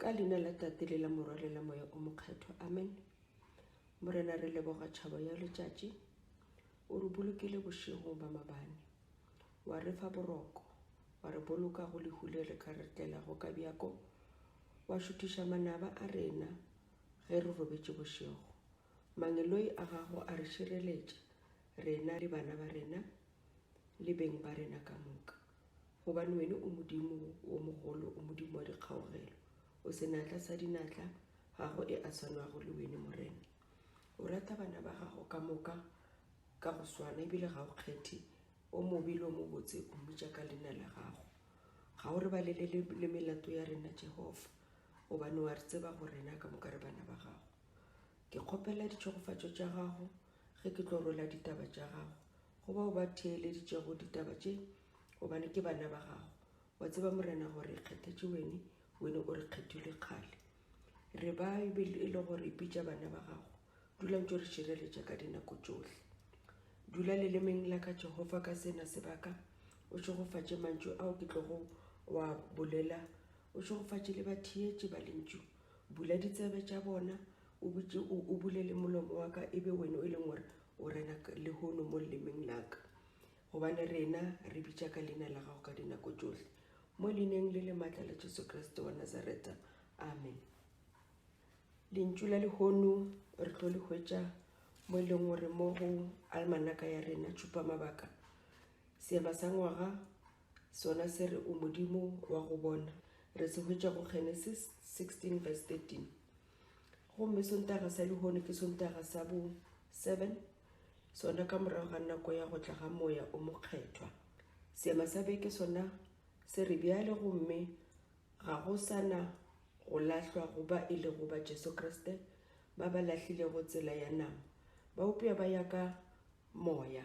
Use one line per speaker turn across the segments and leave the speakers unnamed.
ka leina la tate le la morwa le la moya o mokgethwa amen morena re leboga tšhabo ya letšatši o re bolokile bošegong ba mabane wa re fa boroko wa re boloka go lehu le re ka re tlelago ka bjako wa šuthiša manaba a rena ge re robetše bošego Mangeloi a gago a re šireletša, rena le bana ba rena le beng ba rena ka moka, gobane wene o Modimo wo mogolo, o Modimo wa dikgaogelo, o senatla sa dinatla, ga go e a swanwago le wene, Morena. O rata bana ba gago ka moka ka go swana, ebile ga o kgethe o mobe le o mobotse, o mmitša ka leina la gago. Ga o re balelele le melato ya rena, Jehofa, gobane o a re tseba gore rena ka moka re bana ba gago. Ke kgopela ditšhegofatšo tša gago ge ke tlo rwela ditaba tša gago go bao ba theeleditšego ditaba tše gobane ke bana ba gago wa tseba morena gore kgethetše wene wene o re kgethilwe kgale re ba e le gore bitša bana ba gago dula ntse re šireletša ka dinako tšohle dula lelemeng la ka jehova ka sena sebaka o šegofatše mantšu ao ke tlogo wa bolela o šegofatše le batheetše ba lentšu Bula ditsebe tša bona, o butše, o, o bule le molomo wa ka, e be wena e leng gore o rena lehono mo lelemeng la ka. Gobane rena re bitša ka leina la gago ka dinako tšohle, mo leineng le le maatla la Jesu Kriste wa Nazareta. Amen. Lentšu la lehono re tlo le hwetša mo e leng gore mo go almanaka ya rena tšhupamabaka seema sa ngwaga Sona se re o Modimo wa go bona, re se hwetša go Genesis 16 verse 13. Gomme Sontaga sa lehono ke Sontaga sa bo 7, sona ka morago ga nako ya go tla ga Moya o Mokgethwa. Seema sa beke sona se re bjale gomme ga go sana go lahlwa go ba e lego ba Jesu Kriste ba ba lahlilego tsela ya nama, ba upša ba ya ka Moya.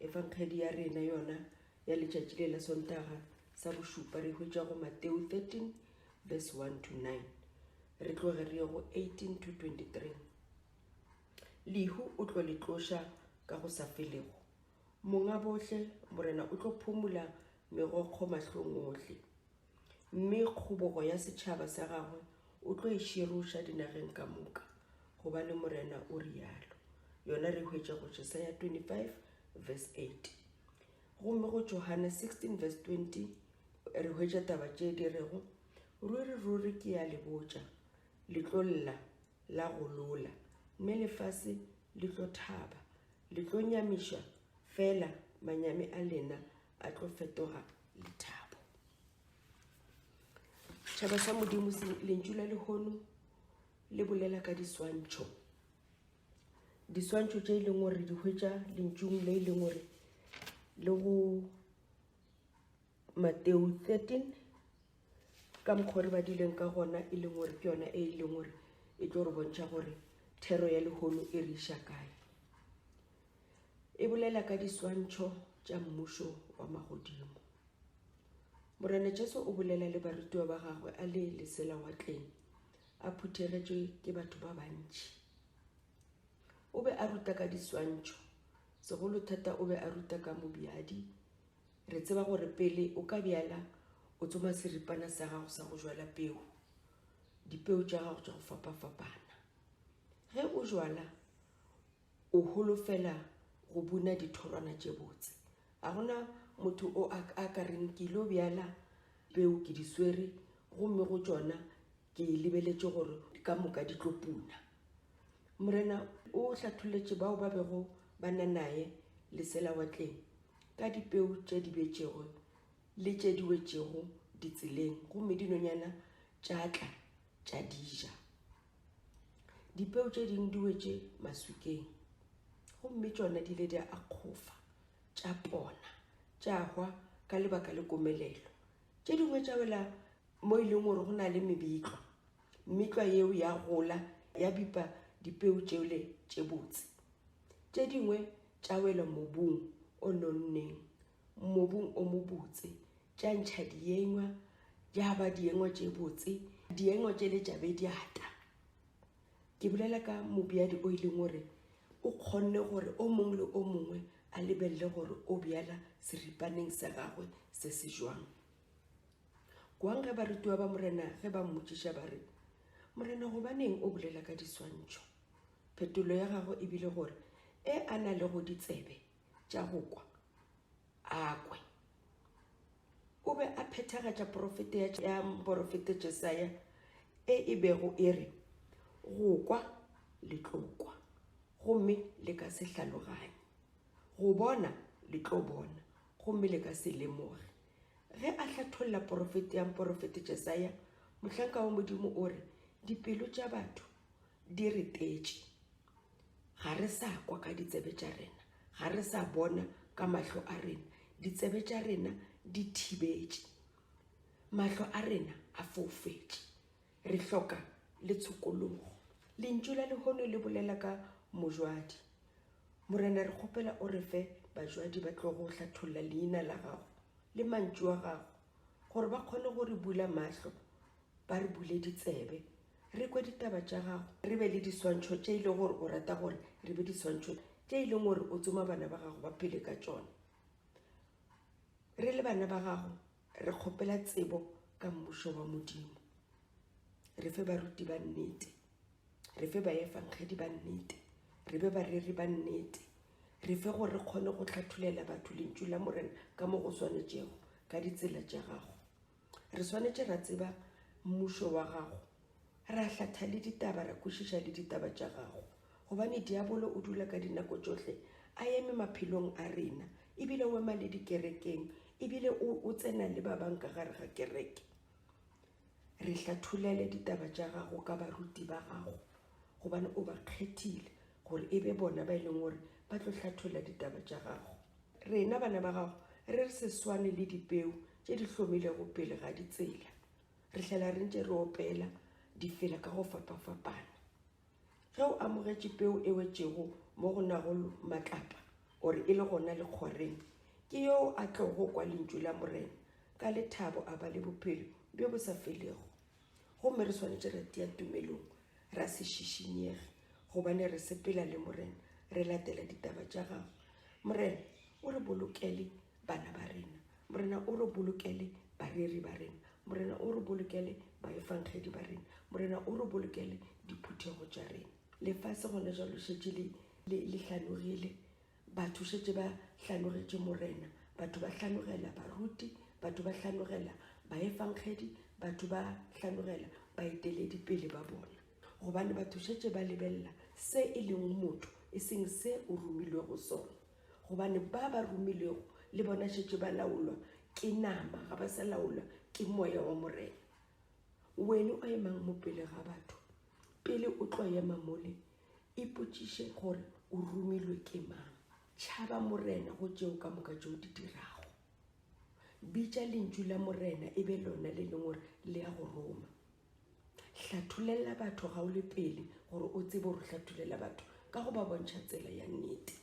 Evanghedi ya rena yona ya letšatši le la Sontaga sa bošupa re hwetša go Mateo 13 verse 1 to 9. Re tloge re ye go 18 to 23. Lehu o tlo le tloša ka go sa felego. Monga bohle, Morena o tlo phumula megokgo mahlong ohle. Mme kgobogo ya setšhaba sa gagwe o tlo e široša dinageng ka moka, gobane Morena o realo. Yona re hwetša go Jesaya 25 verse 8. Gomme go Johane 16 verse 20 re hwetša taba tše di rego, Ruri, ruri ke ya le botša, le tlo lla, la go lola, mme lefase le tlo thaba. Le tlo nyamišwa, fela manyami a lena ba tlo fetoga lethabo tšhaba sa modimo lentšu la lehono le bolela ka diswantšho diswantšho tše e leng gore di hwetša lentšung le e leng gore le go mateo 13 ka mokgwa gore ba dileng ka gona e leng gore ke yona e e leng gore e tlo re bontšha gore thero ya lehono e re iša kae e bolela ka diswantšho tša mmušo wa magodimo. Morena Jesu o bolela le barutiwa ba gagwe a le lesela wa tleng a phuthegetšwe ke batho ba bantši. O be a ruta ka diswantšho, segolo thata o be a ruta ka mobjadi. Re tseba gore pele o ka bjala o tsoma seripana sa gago sa go jwala peo, dipeo tša gago tša go fapafapana. Ge o jwala O holofela go buna dithorwana tše botse. Ga go na motho o a, a ka reng, Ke ilo bjala peu, ke di swere, gomme go tšona ke lebeletše gore ka moka di tlo puna. Morena o hlatholetše bao ba bego ba na naye leselawatleng ka dipeu tše di betšego le tše di wetšego ditseleng, gomme dinonyana tša tla tša di ja. dipeo tše ding di wetše maswikeng gomme tšona di ile di a kgofa tša pona tša hwa ka lebaka le komelelo tše dingwe tša wela mo e leng gore go na le mebitlwa mmitlwa yeo ya gola ya bipa dipeo tšeo le tše botse tše dingwe tša wela mobung o nonneng mobung o mobotse tša ntšha diengwa ja ba diengwa tše botse diengwa tše le tšabe diata ke bolela ka mobjadi o e leng gore o kgonne gore o mongwe le o mongwe a lebelele gore o bjala seripaneng sa gagwe se se jwang kwang ge barutiwa ba morena ge ba mmotšiša ba re morena gobaneng o bolela ka diswantšho phetolo ya gagwe e bile gore e a na le go ditsebe tša go kwa a kwe o be a phethagatša porofete ya porofete jesaya e e bego e re go kwa le tlo kwa gomme le ka se hlaloganye go bona le tlo bona gomme le ka se lemoge ge a hlatholla porofete ya porofete jesaya mohlanka wa modimo o re dipelo tša batho di retetše Ga re sa kwa ka ditsebe tša rena, ga re sa bona ka mahlo a rena, ditsebe tša rena di thibetše, mahlo a rena a foufetše, re hloka le tshokologo. Lentšu la lehono le bolela ka mojwadi. Morena, re kgopela o re fe bajwadi ba tlo go hlatholla leina la gago le mantšu a gago gore ba kgone go re bula mahlo, ba re bule ditsebe, Re kwe ditaba tša gago, re be le diswantšho tše e lego gore o rata gore re be diswantšho tše e leng gore o tsoma bana ba gago ba phele ka tšona. Re le bana ba gago re kgopela tsebo ka Mmušo wa Modimo. Re fe baruti ba nnete, re fe baefangedi ba nnete, re be bareri ba nnete, re fe gore re kgone go hlatholela batho Lentšu la Morena ka mo go swanetšego ka ditsela tša gago. Re swanetše ra tseba mmušo wa gago, ra hlatha le ditaba, ra kwešiša le ditaba tša gago, gobane diabolo o dula ka dinako tšohle a eme maphelong a rena, e bile o ema le dikerekeng, e bile o, o tsena le ba bang ka gare ga kereke. Re hlatholele ditaba tša gago ka baruti ba gago, gobane o ba kgethile gore e be bona ba e leng gore ba tlo hlatholla ditaba tša gago. Rena bana ba gago re re se swane le dipeu tše di hlomilego pele ga ditsela. Re hlela re ntše re opela difela ka go fapafapana. Ge o amogetše peu e wetšego mo go nago matlapa gore e le gona lekgwareng, ke yoo a tlogo kwa lentšu la Morena ka lethabo a ba le bophelo bjo bo sa felego. Gomme re swanetše re tia tumelong, ra se šišinyege, gobane re sepela le Morena, re latela ditaba tša Gagwe. Morena, o re bolokele bana ba rena. Morena, o re bolokele bareri ba rena. Morena, o re bolokele baefangedi ba rena. Morena, o re bolokele diphuthego tša rena. Lefase gona jalo le šetše le, le, le hlanogile. Batho šetše ba hlanogetše Morena, batho ba hlanogela baruti, batho ba hlanogela baefangedi, batho ba hlanogela baeteledipele ba bona, gobane batho šetše ba lebelela se e lego motho, e seng se o romilwego sona. Gobane ba ba romilwego le bona šetše ba laolwa ke nama, ga ba sa laolwa ke Moya wa Morena. Wene o emang mo pele ga batho, pele o tlo ema mole Ipotšiše gore o romilwe ke mang. Tšhaba Morena go tšeo ka moka tšeo di dirago. Bitša lentšu la Morena e be lona le leng gore le ya go roma. Hlatholela batho ga o le pele gore o tsebe gore hlatholela batho ka go ba bontšha tsela ya nnete.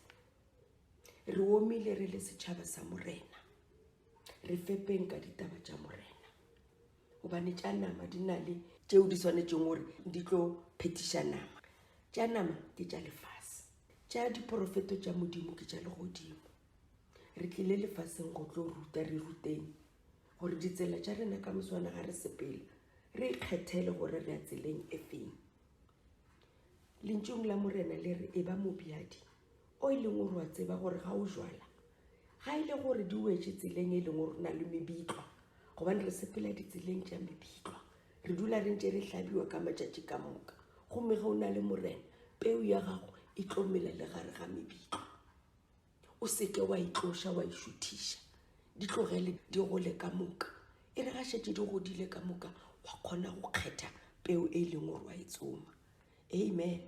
Re omile re le setšhaba sa Morena. Re fepeng ka ditaba tša Morena. gobane tša nama di na le tšeo di swanetšeng gore di tlo phetiša nama tša nama ke tša lefase tša diporofeto tša modimo ke tša legodimo re tlile lefaseng go tlo ruta re ruteng gore ditsela tša rena ka moswana ga re sepele re ikgethele gore re ya tseleng e feng lentšong la morena le re e ba mobjadi O e leng gore wa tseba gore ga o jwala, ga e le gore di wetše tseleng e leng gore na le mebitlwa, gobane re sepela ditseleng tša mebitlwa, re dula re ntše re hlabiwa ka matšatši ka moka, gomme ge o na le Morena, peu ya gago e tlo mela le gare ga mebitlwa. O se ke wa itloša wa išuthiša, di tlogele di gole ka moka. E re ga šetše di godile ka moka, wa kgona go kgetha peu e leng gore wa e tsoma. Amen.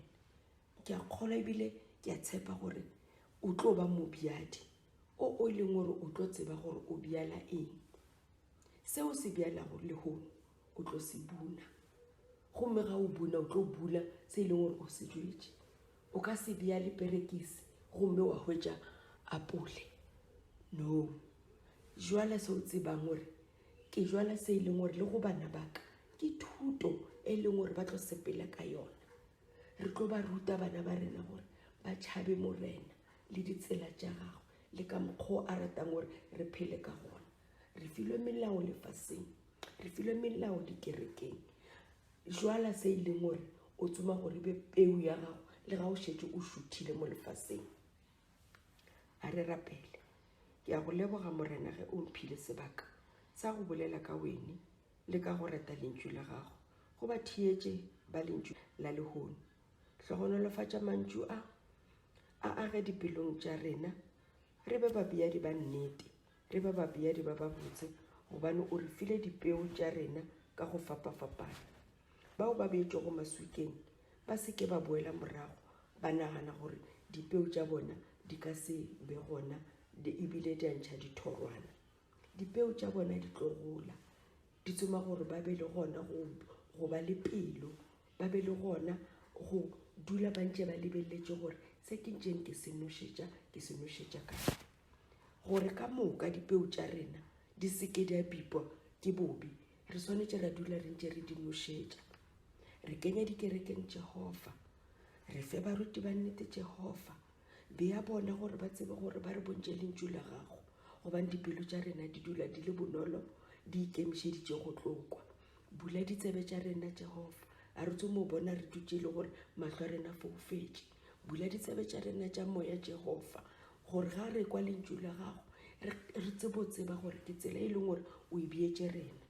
ke a kgolwa ebile ke a tshepa gore o tlo ba mobjadi o o e leng gore o tlo tseba gore o bjala eng seo se bjalago lehono o tlo se buna gomme ga o buna o tlo bula se e leng gore o se jwetse o ka se bja le perekise gomme wa hwetša apole no jwala se o tsebang gore ke jwala se e leng gore le go bana baka ke thuto e leng gore ba tlo sepela ka yona Re tlo ba ruta bana ba rena gore ba tšhabe Morena le ditsela tša gagwe le ka mokgwa o a ratang gore re phele ka gona. Re filwe melao lefaseng, re filwe melao dikerekeng. Jwala se e leng gore o tsoma gore e be peu ya gago le ga o šetse o šuthile mo lefaseng. A re rapele. Ke a go leboga Morena ge o mphile sebaka sa go bolela ka wene le ka go reta lentšu la gago, go ba theetše ba lentšu la lehono. Hlogonolofatša mantšu a, a age dipelong tša rena, re be babeadi ba nnete, re be babeadi ba babotse, gobane o re file dipeo tša rena ka go fapafapana. Bao ba beetšwego maswikeng ba se ke ba boela morago ba nagana gore dipeo tša bona di ka se be gona ebile di a ntšha dithorwana. Dipeo tša bona di tlo gola, di tsoma gore ba be le gona go, go ba le pelo, ba be le gona go dula ba ntše ba lebeletse gore se ke ntšeng ke se nošetša, ke se nošetša kae. Gore ka moka dipeo tša rena di se ke di a bipwa ke bobi, re swanetše ra dula re ntše re di nošetša. Re kenya dikerekeng Jehova, re fe baruti ba nnete Jehova, Bea bona gore ba tsebe gore ba re bontše lentšu la gago, gobane dipelo tša rena di dula di le bonolo di ikemišeditše go tlo kwa. Bula ditsebe tša rena, Jehofa, a re tso mo bona re dutše le gore mahlo a rena foufetše. Bula ditsebe tša rena tša moya, Jehofa, gore ga re kwa lentšu la gago re tsebo tseba gore ke tsela e leng gore o e beetše rena.